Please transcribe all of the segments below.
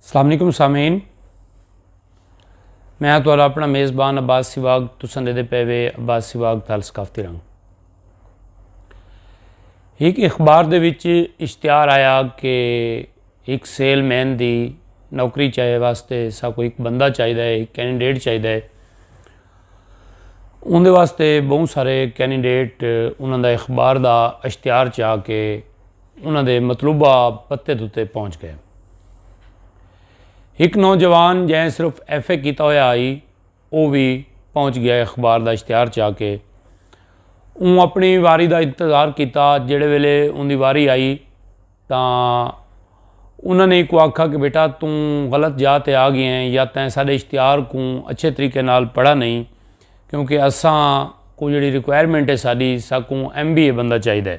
السلام علیکم سامعین میں تو اپنا میزبان عباس سواگ تساں دے دے پے وے عباس سواگ تال ثقافتی رنگ ایک اخبار دے وچ اشتہار آیا کہ ایک سیل مین دی نوکری چاہے واسطے سا کو ایک بندہ چاہیے ہے ایک کینڈیڈیٹ چاہیے ہے ان دے واسطے بہت سارے کینڈیڈیٹ انہوں دا اخبار دا اشتہار چاہ کے انہاں دے مطلوبہ پتے تتے پہنچ گئے۔ ہک نوجوان جئیں صرف ایف اے کیتا ہویا ہئی او وی پہنچ گیا اخبار دا اشتہار چا کے۔ اوں اپنی واری دا انتظار کیتا جیڑھے ویلے اوندی واری آئی تاں انہاں نے اکوں آکھا کہ بیٹا توں غلط جاہ تے آ گئے ہیں یا تیں ساڈے اشتہار کوں اچھے طریقے نال پڑھا نہیں کیونکہ اساں کوں جیڑھی ریکوائرمنٹ ہے ساڈی ساکوں ایم بی اے بندہ چاہیدا ہے۔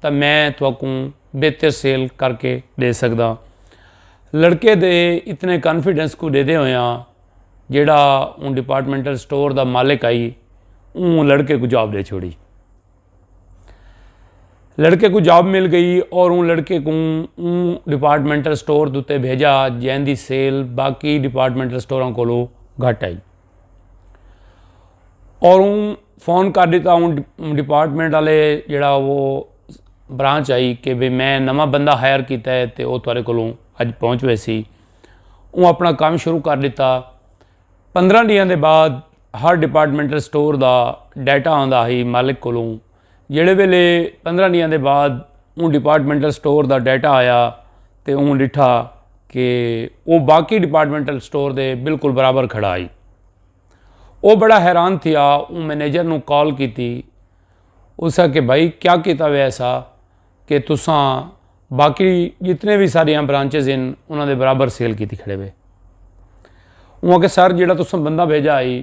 تاں میں تہاکوں بہتر سیل کر کے ڈے سگداں۔ لڑکے دے اتنے کانفیڈنس کوں ڈیدے ہویاں جیڑھا اوں ڈیپارٹمنٹل سٹور دا مالک ہئی اوں لڑکے کوں جاب ڈے چھوڑی۔ لڑکے کوں جاب مل گئی اور اوں لڑکے کوں اوں ڈیپارٹمنٹل سٹور دوتے بھیجا جیندی سیل باقی ڈیپارٹمنٹل سٹوراں کولو گھٹ ہئی۔ اور اوں فون کر ݙتا اوں ڈیپارٹمنٹ والے جیڑھا وہ برانچ آئی کہ بھئی میں نواں بندہ ہائر کیتا ہے تے او تہاݙے کولوں اڄ پہنچ ویسی اوں اپنا کم شروع کر ݙتا پندرہ ݙینہاں دے بعد ہر ڈیپارٹمنٹل سٹور دا ڈیٹا آندا ہئی مالک کولوں جیڑھے ویلے پندرہ ڈینہاں دے بعد اوں ڈیپارٹمنٹل سٹور دا ڈیٹا آیا تے اوں ڈٹھا کہ او باقی ڈیپارٹمنٹل سٹور دے بالکل برابر کھڑا ہئی۔ او بڑا حیران تھیا اوں منیجر نوں کال کیتی اسا کہ بھائی کیا کیتا ہویا ایسا کہ تساں باقی جتنے وی ساڈیاں برانچز ہن انہاں دے برابر سیل کیتی کھڑے وے۔ اوں آکھیا سر جیڑھا تساں بندہ بھیجا ہئی۔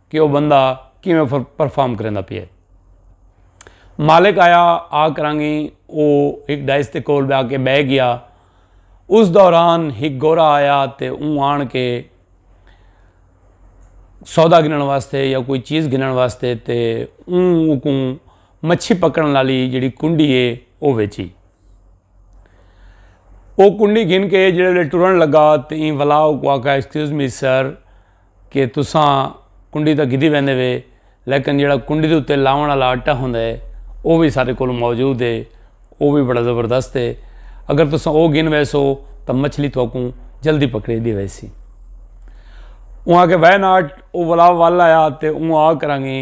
کہ او بندہ کیویں پرفارم کریندا پیا ہے۔ مالک آیا آ کراں گی او ہک ڈائس دے کول جا کے بہ گیا۔ اس دوران ہک گورا آیا تے اوں آن کے سودا گھنݨ واسطے یا کوئی چیز گھنݨ واسطے تے اوں اکوں مچھی پکڑݨ والی جیڑھی کنڈی ہے او ویچی۔ او کنڈی گھن کے جیڑھے ٹرن لگا تے ایں ولا اکوں آکھا ایکسکیوز می سر! کہ تساں کنڈی تاں گھدی ویندے وے لیکن جیڑھا کنڈی دے اتے لاوݨ آلا آٹا ہوندا ہے او وی ساڈے کولوں موجود ہے او وی بڑا زبردست ہے اگر تساں او گھن ویسو تاں مچھلی تہاکوں جلدی پکڑی ڈی ویسی۔ اوں آکھیا وے ناٹ او ولا ول آیا تے اوں آ کراں گی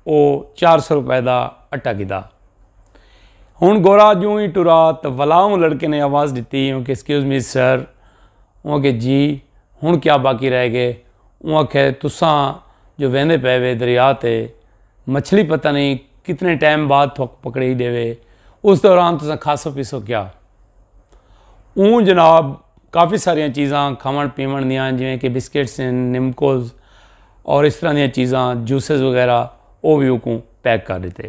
او چار سو روپے دا آٹا گھدا۔ ہن گورا جوں ہی ٹرا تاں ولا اوں لڑکے نے آواز ڈتی اوں کہ ایکسکیوز می سر اوں آکھیا جی ہنڑ کیا باقی رہ گئے۔ اوں آکھیا تساں جو ویندے پئے وے دریا تے مچھلی پتہ نئیں کتنے ٹائم بعد تھوک پکڑی ڈیوے اس دوران تساں کھاسو پیسو کیا۔ اوں جناب کافی ساریاں چیزاں کھاونڑ پیونڑ دیاں جیویں کہ بسکٹس ہن نمکوز اور اس طرح دیاں چیزاں جوسز وغیرہ او وی اوکوں پیک کر ڈتے۔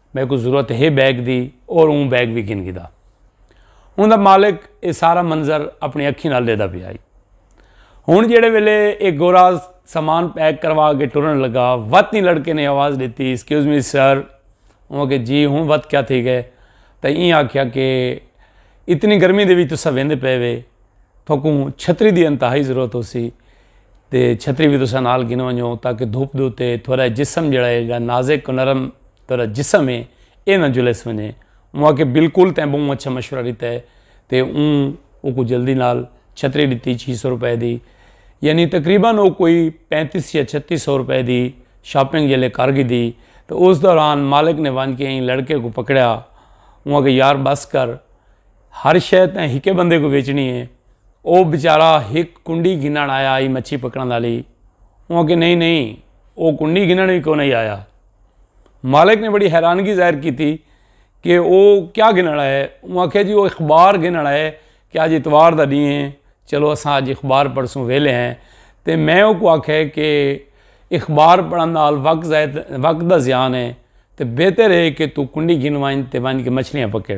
میکوں ضرورت ہے بیگ دی اور اوں بیگ وی گھن گھدا۔ اوندا مالک اے سارا منظر اپنی اکھیں نال ڈیدا پیا ہئی۔ ہن جیڑھے ویلے اے گورا سامان پیک کروا کے ٹرن لگا وت ایں لڑکے نے آواز ڈتی ایکسکیوز می سر اوں آکھیا جی ہن وت کیا تھی گئے تاں ایں آکھیا کہ اتنی گرمی دے وچ تساں ویندے پئے وے تھاکوں چھتری دی انتہائی ضرورت ہوسی۔ تے چھتری وی تساں نال گھن ونجو تاکہ دھوپ دے اتے تھوڑا جسم جڑا ہے گا نازک و نرم تھوڑا جسم ہے اے نہ جلس ونجے موا کہ بالکل تیں بہوں اچھا مشورہ ڈتا ہے تے اوں او کو جلدی نال چھتری ڈتی چھی سو روپے دی یعنی تقریبا او کوئی پینتیس یا چھتی سو روپے دی شاپنگ جلے کر گی دی تے اس دوران مالک نے ونج کے ایں لڑکے کو پکڑیا موا کہ یار بس کر ہر شے تیں ہکے بندے کوں ویچنی ہے۔ او بیچارہ ہک کنڈی گھنن آیا ہئی مچھی پکڑن والی۔ اوں آکھیا نہیں نہیں او کنڈی گھنن وی کونہی آیا۔ مالک نے بڑی حیرانگی ظاہر کیتی کہ او کیا گھنن آیا ہے۔ اوں آکھیا جی او اخبار گھنن آیا ہے کہ آج اتوار دا ڈینہہ ہے چلو اساں آج اخبار پڑھسوں ویلے ہیں۔ تے میں اوکوں آکھیا ہے کہ اخبار پڑھن نال وقت ضائع وقت دا ضیان ہے۔ تے بہتر ہے کہ تو کنڈی گھن ونج تے ونج کے مچھلیاں پکڑ۔